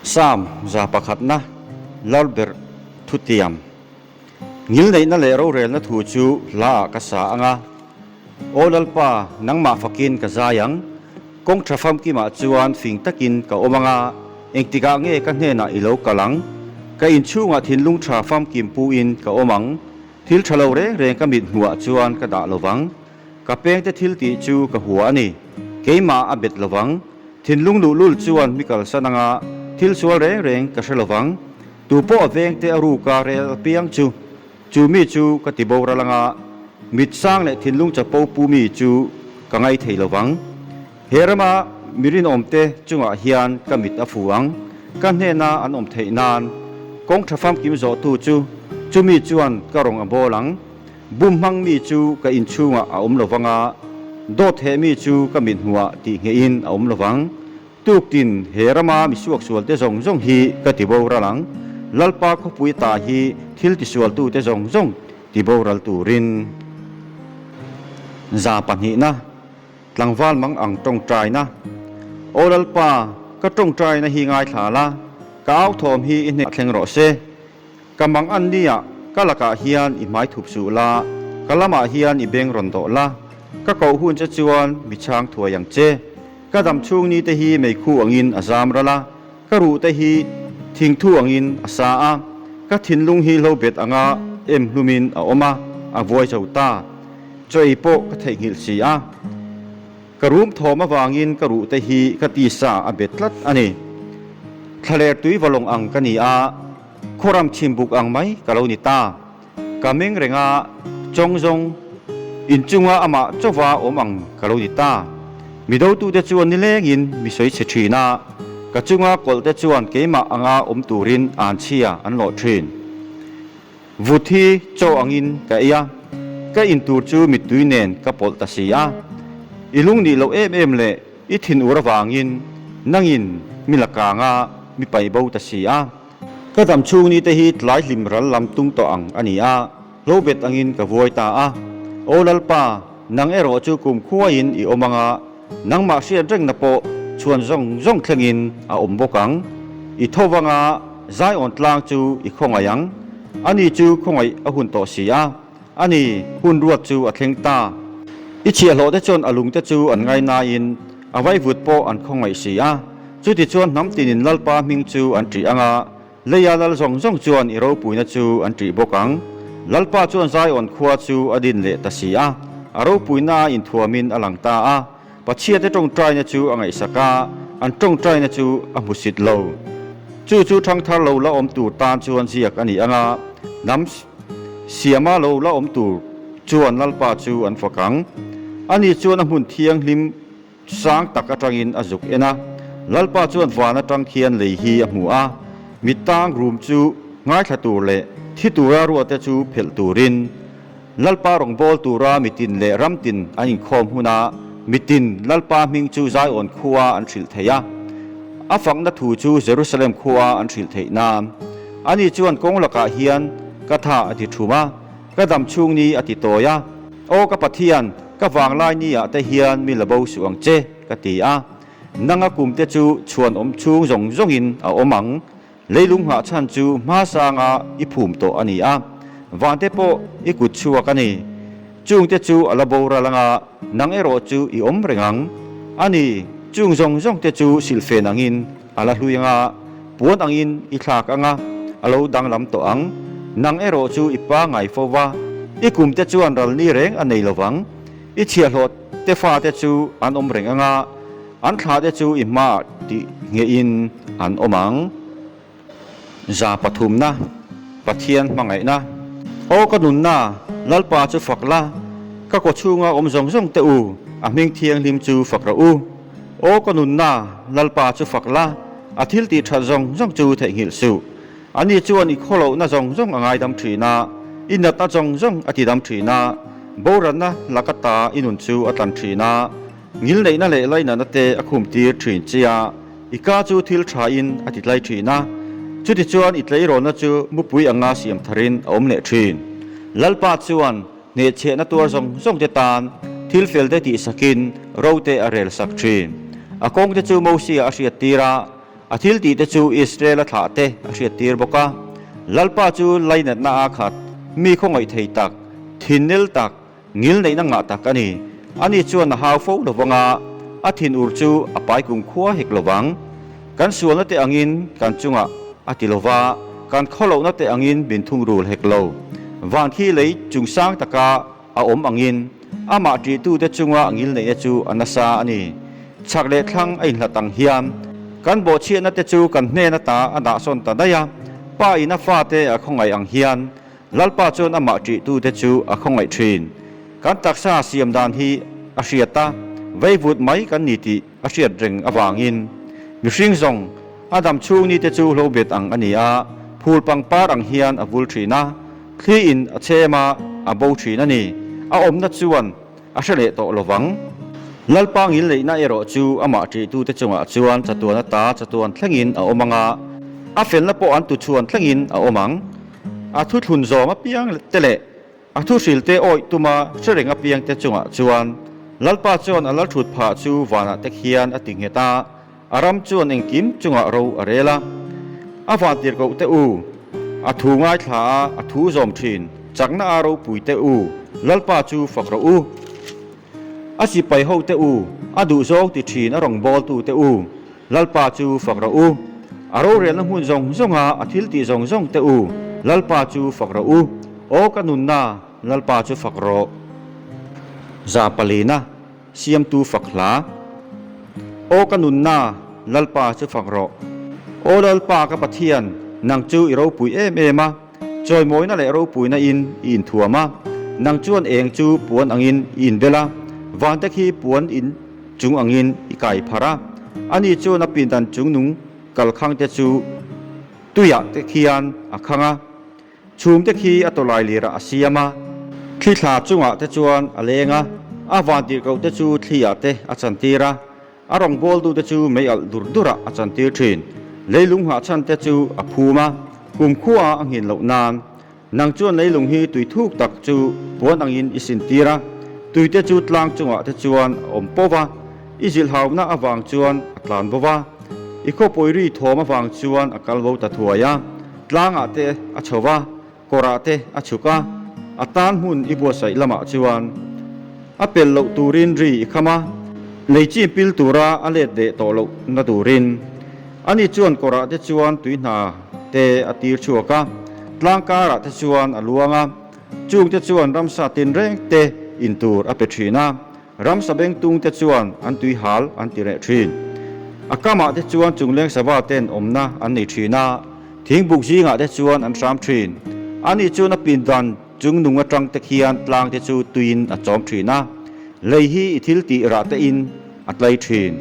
Psalm za pakhatna, lar ber thutiam, ngil neihna leh rorelna thu chu hlaah ka sa ang a. Aw Lalpa, nangmah fakin ka zai ang, kawng tha famkimah chuan fing takin ka awm ang a, engtikah nge ka hnenah i lo kal ang? Ka inchhungah thinlung tha famkim puin ka awm ang, thil tha lo reng reng ka mithmuhah chuan ka dah lo vang. Ka pengte thil tih chu ka hua a ni. Keimah a bet lo vang. Thinlung luh lul chuan hmi kalsan anga thil sual reng reng ka hre lo vang. Tu pawh a vengte a ruk a rel piang chu. Chu mi chu ka ti boral anga mit sang leh thinlung chapo pu mi chu ka ngai thei lo vang. He rama mi rinawmte chungah hian ka mit a fu ang. Ka hnena an awm theih nan kawng tha famkim zawhtu chu chu mi chuan ka rawn a bawl ang. Bum hmang mi chu ka inchhungah a awm lo vang a, dawtheh mi chu ka mit hnuah tih ngeiin a awm lo vang. Tuk tin, he rama misuak sualte zawng zawng hi ka ti boral ang, Lalpa khawpui ta hi thil tisualtute zawng zawng ti boral turin. Za pahnihna, tlangval mang ang tawngtaina. Aw Lalpa, ka tawngtaina hi ngaithla la, ka authawm hi i hneh thleng rawh se. Ka mang an ni a, ka lakah hian i hmai thup suh la, ka lamah hian i beng rawn dawh la, ka koh hun che chuan mi chhang thuai ang che. Ka dam chhung ni te hi mei khu angin a zam ral a, ka ruh te hi thing thu angin a sa a, ka thinlung hi hlo bet anga em hlumin a awm a, a vuai zo ta. Chaw ei pawh ka theihnghilh si a, ka rum thawm avangin ka ruh te hi ka ti sa a bet tlat a ni. Thlaler tui va lawng ang ka ni a. Khuaram chhim buk ang mai ka lo ni ta. Ka meng renga chawng zawng inchunga amah chauva awm ang ka lo ni ta. Mi dotute chuan nilengin misawi chhe thin a, ka chunga kawlte chuan keimah anga awm turin an chhia an lawh thin. Vut hi chaw angin ka ei a, ka in tur chu mittui nen ka pawlh ta si a. I lung nih loh em em leh I thin ur avangin nangin mi lakanga mi paibo ta si a, ka zam chhung ni te hi tlai hlim ral lam tum tawh ang a ni a, hlo bet angin ka vuai ta a, Aw Lalpa, nang erawh chu kumkhuain i awm anga, nangmah hriat rengna pawh chhuan zawng zawng thlengin a awm bawk ang, i tho vanga Zion tlang chu i khawngaih ang, ani chu khawngaih a hun tawh si a. A ni, hun ruat chu a thleng ta. I chhiahhlawh te chuan a lungte chu an ngai naiin a vaivut pawh an khawngaih si a. Chutichuan hnam tinin Lalpa hming chu an ṭih ang a, Leia lal zawng zawng chuan i ropuina chu an ṭih bawk ang. Lalpa chuan Zion khua chu a din leh ta si a, a ropuina a inthuamin a lang ta a. Pathiate tawngtaina chu a ngaihsak a, an tawngtaina chu a hmusit lo. Chu chu thangthar lo la awm tur tan chuan ziak a ni anga hnam siama lo la awm tur chuan Lalpa chu an fakang. Ani chuan a hmun thianghlim sang tak atangin a zuk en a. Lalpa chuan van atang khian lei hi a hmu a, mi tang rum chu ngaithla tur leh thi tura ruate chu phelh turin. Lalpa rawngbâwl tûra mitin leh ramtin an inkhâwm huna mitin Lalpa hming chu Zion khua an hrilh theih a, a fakna thu chu Jerusalem khua an hrilh theih nân. Ani chuan kawng lakah hian ka tha a ti ṭhum a, ka dam chhûng ni a ti tawi a, Aw ka Pathian, ka vânglai niah te hian mi la bo suh ang che, ka ti a, nanga kumte chu chhuanawm chhûng zawng zawngin a awm ang. Leilung nghah chhan chu hma sanga i phum tawh a ni a, vante pawh i kut chhuak a ni. Chungte chu a la boral anga nang erawh chu i awm reng ang a ni. Chung zawng zawng te chu silhfen angin a la hlui anga puan angin i thlak anga a lo danglam tawh ang. Nang erawh chu i pangai fo va, i kumte chuan ralni reng a nei lovang. I chhiahhlawh te fate chu an awm reng ang a, an thla te chu i hma ti ngeiin an awm ang. Za pathumna, Pathian hmangaihna. Aw ka nunna, Lalpa chu fak la, ka kaw chhunga awm zawng zawng teh u, a hming thianghlim chu fak rawh u. Aw ka nunna, Lalpa chu fak la, a thiltih that zawng zawng chu theihnghilh suh. Ani chuan i khaw lohna zawng zawng a ngaidam thin a, i natna zawng zawng a tidam thin a, boruanna lak ata i nun chu a tlan thin a, ngilneihna leh lainahna te a khum tir thin che a, i ka chu thil thain a ti tlai thin a. Chutichuan i tleirawnna chu mupui anga siam tharin a awm leh thin. Lalpa chuan hneh chhehna tuar zawng zawng te tan thil fel te tihsakin rote a rel sak thin. A kawngte chu Mosia a hriat tir a, A thil tihte chu Israela thlahte a hriattir bawk a, Lalpa chu lainatna a khat, mi khawngawih thei tak, thinel tak, ngilneihna ngah tak a ni. Ani chuan a hau fo lo vang a, a thin ur chu a pai kum khua hek lo vang. Kan sualna te angin kan chungah a ti lo va, kan khaw lohna te angin min thungrul hek lo. Van khi lei chungsang taka, A awm angin, amah ṭihtute chunga a ngilneihna chu a nasa a ni. Chhak leh thlang a inhlat ang hian, kan bawhchhiatnate chu kan hnen ata a dahsawn ta daih a. Pa ina fate a khawngaih ang hian, Lalpa chuan amah ṭihtute chu a khawngaih ṭhin. Kan taksa siam dan hi a hriat a, veivut mai kan ni tih a hriat reng avangin mihring zawng a dam chhungni te chu hlo bet ang a ni a, phul pangpar ang hian a vul thin a, thli in a chem a, a bo thin a ni, a awmna chuan a hre leh tawh lo vang. Lalpang in leihna erawh chu amah ṭihtu te chungah chuan chatuan ata chatuan thlengin a awm ang a, a felna pawh an tu chhuan thlengin a awm ang, a thuthlun zawng apiang te leh A thu hrilte awih tuma hrereng apiangte chungah chuan Lalpa chuan a lal thut phah chu vanah te khian a ti nghet a, a ram chuan engkim chungah ro a rel a. A van tir koh teh u, a thu ngaithla a, a thu zawm thin, chakna a ropui teh u, Lalpa chu fak rawh u. A sipai ho teh u, a duhzau ti thin a rawn bawl tu teh u, Lalpa chu fak rawh u, a rorelna hmun zawng zawnga a thil tih zawng zawng teh u, Lalpa chu fak rawh u, aw ka nunna Lalpa chu fak rawh. Za palina siamtu fak hla, aw ka nunna Lalpa chu fak rawh. Aw Lalpa ka Pathian, nang chu i ropuih em em a. Chawimawina leh ropuina in i inthuam a, nang chuan eng chu puan angin i inbel a, vante khi puan in chung angin i kai phar a. Ani chuan a pindan chung nung kalkhangte chu tuiah te khian a khang a, chhumte khi a tawlai lirah a siam a. Thli thla chungah te chuan a leng a, a vantirhkohte chu thliah te a chantir a. A rawngbawltute chu mei alh dur durah a chantir thin. Leilung nghahchhante chu a phum a, kum khua a nghin loh nan. Nang chuan leilung hi tui thuk tak chu puan angin i sintir a, tuite chu tlang chungah te chuan a awm poh va, i zilhauna avang chuan a tlan bo va, i khawpawiri thawm avang chuan a kal bo ta thuai a, tlangah te a chho va. Kawrah te a chhuk a, a tan hmun i buatsaih lamah chuan a pel loh turin ri i kham a, lei chi pil tura a let ve tawh loh na turin a ni chuan kawrah te chuan tui hna te a tir chhuak a, tlangkarah te chuan a luang a, chungte chuan ramsa tinreng te in tur a pe thin a. Ramsa bengtung te chuan an tuihal an ti reh thin. A kamah te chuan chungleng sava ten awmna an nei thin a, thingbuk zingah te chuan an hram thin. Ani chuan a pindan chungnung atang te khian tlang te chu tuiin a chawm thin a. Lei hi i thil tih rah tein a tlai thin.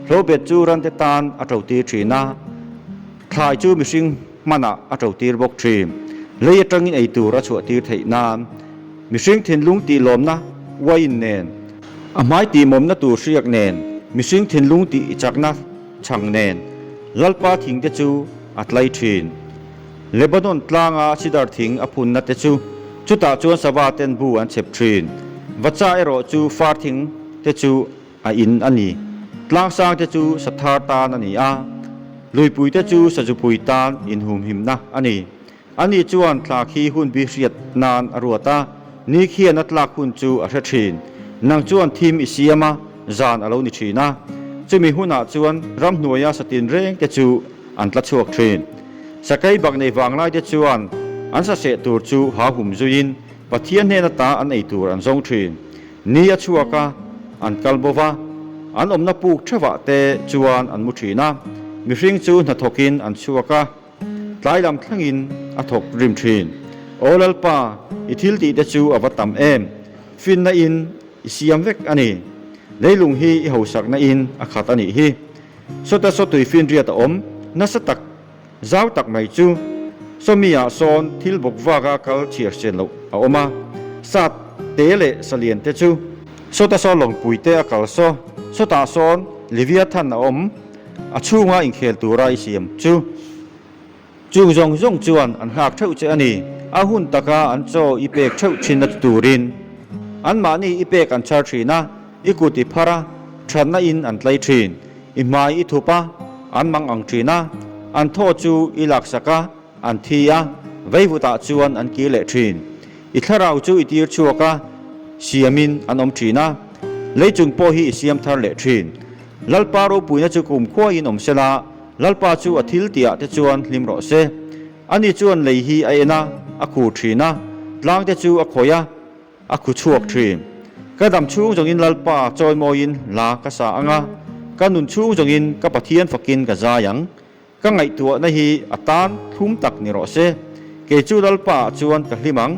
Hlawbet chu rante tan a ṭo tir thin a, thlai chu mihring. hmanah a to tir bawk thin. Hlei atangin ei tur a chhuah tir theih nan mihring thinlung tih lawmna uaiin nen, a hmai tihmawmna tur hriak nen, mihring thinlung tih i chakna chhang nen Lalpa thingte chu a tlai thin. Lebanon tlanga cedar thing a phunna te chu chutah chuan sava ten bu an chhep thin. Vacha erawh chu far thing te chu A in a ni. Tlangsangte chu Sathar tan a ni a, Luipuite chu Sazupui tan inhumhimna a ni. Ani chuan tla khi hun bi hriat nan a ruat a, ni khian a tlak hun chu a hre thin. Nang chuan thim i siam a, zan a lo ni thin a. Chumi hunah chuan ramhnuaia satin rengte chu an tla chhuak thin. Sakei bak nei vanglaite chuan an sa seh tur chu hauhum zuiin Pathian hnena ta an ei tur an zawng thin. Ni a chhuak a, an kal bo va, an awmna puk thevah te chuan an mu thin a, mihring chu hna thawkin an chhuak a, tlai lam thlengin a thawk rim thin. Aw Lalpa, i thil tih te chu a va tam em? Finna in i siam vek a ni. Leilung hi i hausak na in a khat a nih hi. Sawta saw tui finriat a awm nasa tak. Zau tak mai chu Sawmia sawn thil bawk vaka kal chhiarchian loh a awm a, Sat te leh Salian te chu Sawta sawn lawngpui te a kal saw, Sawtah sawn Leviathan a awm, a chhunga inkhel tura i siam chu chung zawng zawng chuan an nghak theuh che a ni. A hun taka an chaw i pek theuh thin a ti turin anmahni i pek an char thin a. I kut i phar a, thatna in an tlai thin. I hmai i thup a, an mang ang thin a, an thaw chu i laksak a, an thi a, veivutah chuan an kir leh thin. I thlarau chu i tir chhuak a, siamin an awm thin a, leicung pawh hi i siam thar leh thin. Lalpa ropuina chu ka um khuaiin awm se la, Lalpa chu a thil ti ah te chuan hlim rawh se. Ani chuan lei hi a en a, a khur thin a, tlangte chu a khawih a, A khu chhuak thin. Ka dam chhung zawngin Lalpa chawimawiin la ka sa ang a, ka nun chhung zawngin ka Pathian fakin ka zai ang. Ka ngaihtuahna hi a tan thlum tak ni rawh se, kei chu Lalpa ah chuan ka hlim ang.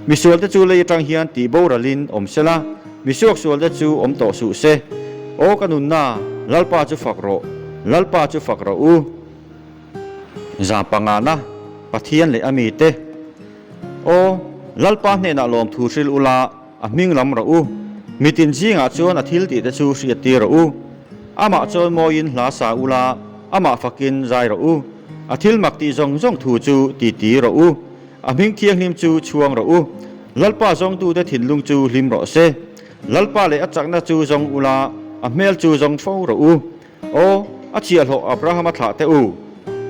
Misualte chu lei atang hian tih boralhin awm sela, misuak sualte chu awm tawh suh se. Aw ka nunna, Lalpa chu fak rawh, Lalpa chu fak rawh u. Zam pangana, Pathian leh a mite. Aw, Lalpa hnenah lawmthu hrilh ula, a hming lam rah u. Mitin zingah chuan a thil tihte chu hriat tir rah u. Amah chawn mawiin hla sa ula, amah fakin zai rah u. A thil mak tih zawng zawng thu chu titi rawh u. A hming thianghlim chu chhuang rawh u. Lalpa zawngtute thinlung chu hlim rawh se. Lalpa leh a chakna chu zawng ula, a hmel chu zawng fo rawh u. Aw, a chiah hlawh Abrahama thlah teh u,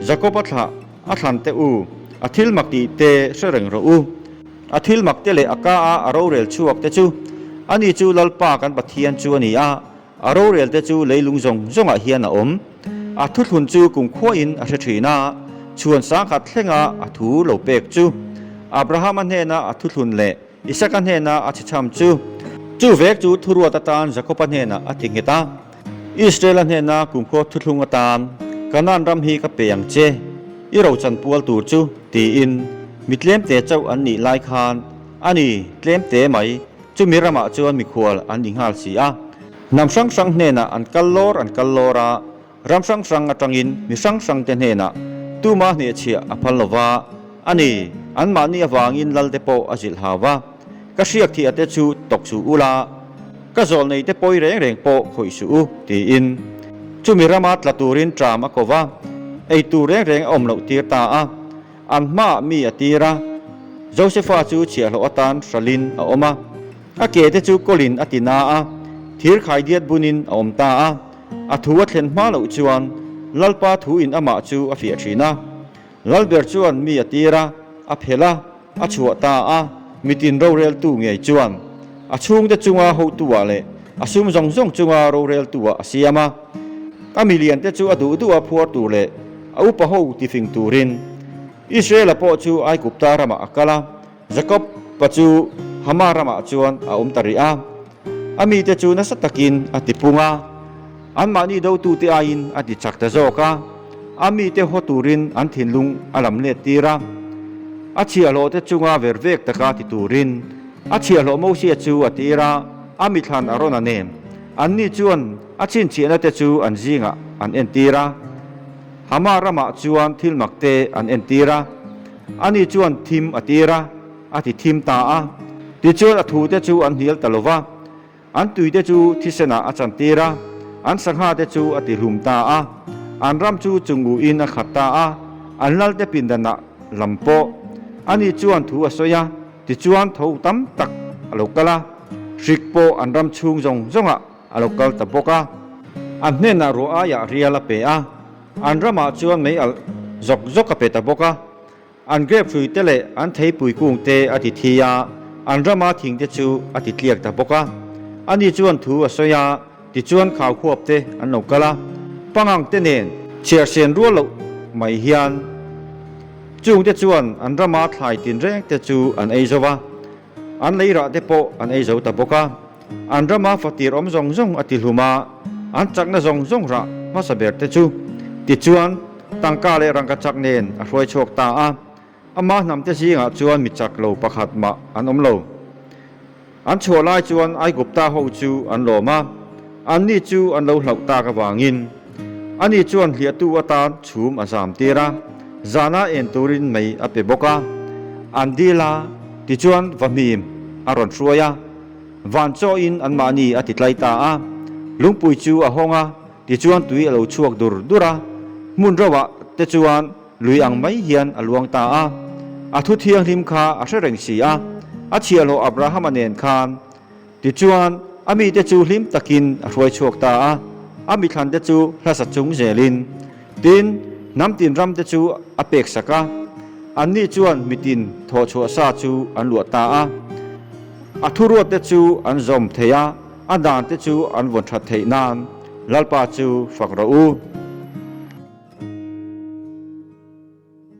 Jakoba thlah a thlan teh u, a thil mak tih te hre reng rawh u. A thil mak te leh a ka a a rorel chhuak te chu, ani chu Lalpa kan Pathian chu a ni a, a rorel te chu leilung zawng zawngah hian a awm. A thuthlun chu kumkhuain a hre thin a, chhuan sangkhat thlenga a thu lo pek chu Abrahama hnena a thuthlun leh, Isaka hnena a chicham chu. Chu vek chu thuruat atan Jakoba hnena a ti nghet a, Israela hnena kumkhua thuthlung atan, Kanaan ram hi ka pe ang che, i rochan pual tur chu, tiin mi tlemte chauh an nih lai khan a ni tlemte mai, chumi ramah chuan mikhual an inghal si a. Hnam hrang hrang hnena an kal lawr an kal lawr a, Ram hrang hrang atangin mi hrang hrangte hnenah tuma hnehchhiah a phal lova a ni. Anmahni avangin lalte pawh a zilh hau a. Ka hriak thih ate chu tawk suh u la, ka zawlh neite pawi reng reng pawh khawih suh u, tiin chumi rama tla turin ṭam a ko va. Ei tur reng reng a awm loh tir ta a, an hmaah mi a tir a. Josepha chu chhiahhlawh atan hralhin a awm a. A kete chu Colin a tina a, thir khaidiat bunin a awm ta a. A thu a thlen hma loh chuan Lalpa thu in amah chu a fiah thin a. Lalber chuan mi a tir a, a phelh a, a chhuah ta a, mitin roreltu ngei chuan a chhungte chunga hotuah leh a sum zawng zawng chunga roreltuah a siam a. A miliante chu a duh duh a phuar tur leh a upa ho tifing turin Israela pawh chu Aikupta ramah a kal a. Jacob pa chu Hama ramah chuan a awm ta rih a, a mite chu nasa takin a tipung a, anmahni dotute aiin a ti chak ta zawk a, a mite haw turin an thinlung a lam let tir a, a chhiahhlawhte chunga ver vek taka ti turin a chhiahhlawh Mosia chu a tir a, a mithlan a rawn a nem. Anni chuan a chhinchhiahnate chu an zingah an entir a, Hama ramah chuan thil makte an entir a. Ani chuan thim a tir a, a ti thim ta a. Tichuan a thute chu an hnial ta lova, an tuite chu thisenah a chantir a, an sanghate chu a tihlum ta a, an ram chu chunguin a khat ta a, an lalte pindanah lam pawh. Ani chuan thu a sawi a, tichuan tho tam tak a lo kal a, hrik pawh an ram chhung zawng zawngah a lo kal ta bawk a. An hnenah ruah aiah rial a pe a. An ramah chuan mei alh zawk zawk a pe ta bawk a, an grapefruit te leh an theipui kung te a ti thi a, an rama thing te chu a ti tliak ta bawk a. Ani chuan thu a sawi a, tichuan khau huap te an lo kal a, pangang te nen chhiarhsen rual loh mai hian chungte chuan an rama thlai tin reng te chu an ei zo a. An lei rah te pawh an ei zo ta bawk a, an rama fatir awm zawng zawng a tihlum a, an chakna zawng zawng rah hmasa ber te chu. Tichuan, tangka leh rangka chak nen a hruai chhuak ta a, ama hnam te zingah chuan mi chak lo pakhat mah an awm lo. An chhuah lai chuan Aigupta ho chu an lawm a, anni chu an lo hlauh tak avangin, Ani chuan hliahtu atan chhum a zam tir a, zana en turin mei a pe bawk a. An dil a, tichuan va hmim a rawn hruai a. Van chawiin anmahni a titlai ta a. Lungpui chu a hawng a, tichuan tui a lo chhuak dur dur a. Hmun rauhah te chuan lui ang mai hian a luang ta a. A thu thianghlim kha a hre reng si a. A chhiahhlawh Abrahama nen khan. Tichuan, a mite chu hlim takin a hruai chhuak ta a, a mithlante chu hlasa chung zelin. Tin, hnam tin ramte chu a pek sak a, annih chuan mitin thawh chhuah sa chu an luah ta a, a thuruatte chu an zawm thei a, a dante chu an vawn that theih nain Lalpa chu fak rawh u.